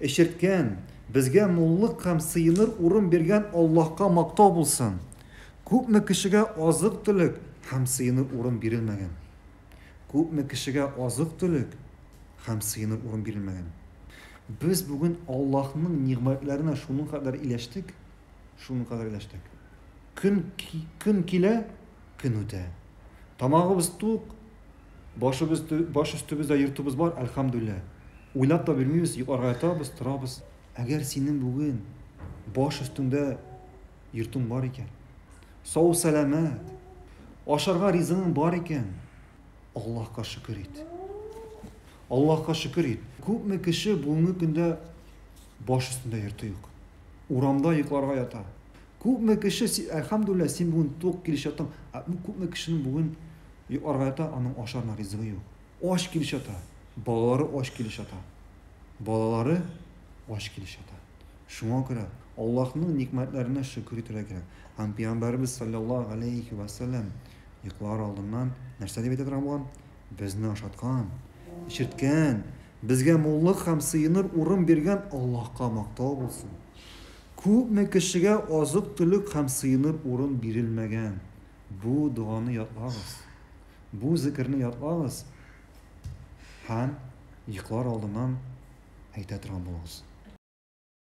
Эчерткән, безгә муллык һәм сыеныр урын биргән Аллаһка мактау булсын! Күпме кешегә азык-төлек һәм сыеныр урын бирелмәгән? Күпме кешегә азык-төлек һәм сыеныр урын бирелмәгән? Без бүген Аллаһның нигъмәтләренә шуның кадәр иләштек, шуның кадәр иләштек. Көн, көн килә, көн үтә. Тамагыбыз тук, Башыбыз, баш өстебездә йортыбыз бар, әлхәмдүлләһ. Уйлап та бирмибез, йокларга ятабыз, торабыз. Әгәр синең бүген баш өстеңдә йортың бар икән, сау-сәламәт, ашарга ризыгың бар икән, Аллаһка шөкер ит. Аллаһка шөкер ит. Күпме кеше бүгенге көндә баш өстендә йорты юк. Урамда йокларга ята. Күпме кеше, әлхәмдүлләһ, син бүген тук килеш яттың, ә күпме кешенең бүген Йөк аргайта, аның ашарына ризыгы юк. Ач килеш ята. Балалары ач килеш ята. Балалары ач килеш ята. Шуңа күрә Аллаһның никмәтләренә шөкер итәргә кирәк. Һәм Пәйгамбәребез салләллаһу галәйһи вә сәлләм йоклар алдыннан нәрсә дип әйтә торган булган? Безне ашаткан, эчерткән, безгә муллык һәм сыеныр урын биргән Аллаһка мактау булсын! Күпме кешегә азык-төлек һәм сыеныр урын бирелмәгән, Бу доганы ятлагыз. Бу зекерне ятлагыз һәм йоклар алдыннан әйтә торган булыгыз.